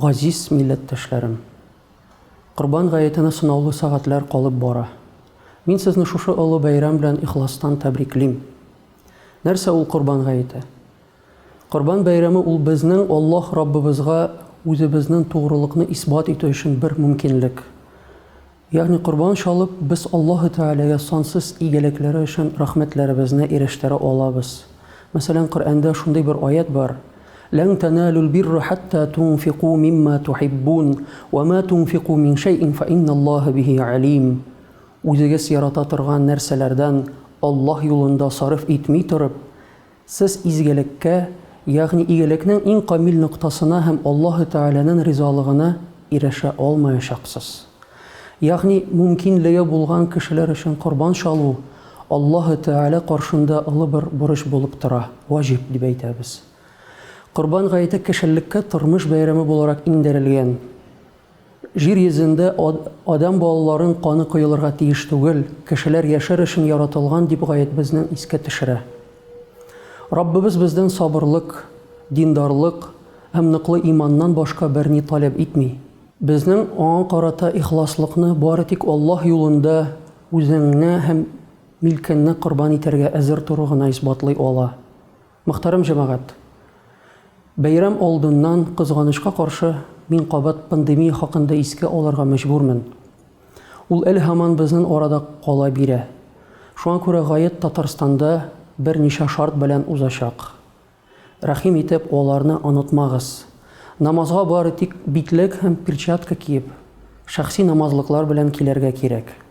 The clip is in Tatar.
Газиз милләттәшләрем! Корбан гаетенә сынаулы сәгатьләр калып бара. Мин сезне шушы олы бәйрәм белән ихластан тәбриклим. Нәрсә ул Корбан гаете? Корбан бәйрәме ул безнең Аллаһ Раббыбызга үзебезнең тугрылыкны исбат итү өчен бер мөмкинлек. Ягъни корбан чалып, без Аллаһы Тәгаләгә сансыз игелекләре өчен рәхмәтләребезне ирештерә алабыз. Мәсәлән, Коръәндә шундый бер аять бар, Лән тәналүл бирра хәттә тунфику мимма тухиббун, вә ма тунфику мин шәйин фә инналлаһа бихи әлим. Үзегез ярата торган нәрсәләрдән Аллаһ юлында сарыф итми торып, Сез изгелеккә, ягъни игелекнең иң камил ноктасына һәм Аллаһы Тәгаләнен ризалыгына ирешә алмаячаксыз. Ягъни мөмкинлеге булган кешеләр өчен корбан чалу Аллаһы Тәгалә каршында олы бер бурыч булып тора, ваҗиб дип әйтәбез. Корбан гаете кешелеккә тормыш бәйрәме буларак иңдерелгән. Җир йөзендә адәм балаларын каны коелырга тиеш түгел, кешеләр яшәр өчен яратылган, дип гаетбезне искә төшерә. Раббыбыз бездән сабырлык, диндарлык һәм ныклы иманнан башка берни таләп итми. Безнең Аңа карата ихласлыкны бары тик Аллаһ юлында үзеңне һәм милкеңне корбан итәргә әзер тору гына исбатлый ала. Мөхтәрәм җәмәгать! Бәйрәм алдыннан, кызганычка каршы, мин кабат пандемия хакында искә алырга мәҗбүрмен. Ул әле һаман безнен арада кала бирә. Шуңа күрә гаед Татарстанда бер ничә шарт белән узачак. Рәхим итеп, аларны онытмагыз. Намазга бары тик битлек һәм перчатка киеп, шәхси намазлыклар белән килергә кирәк.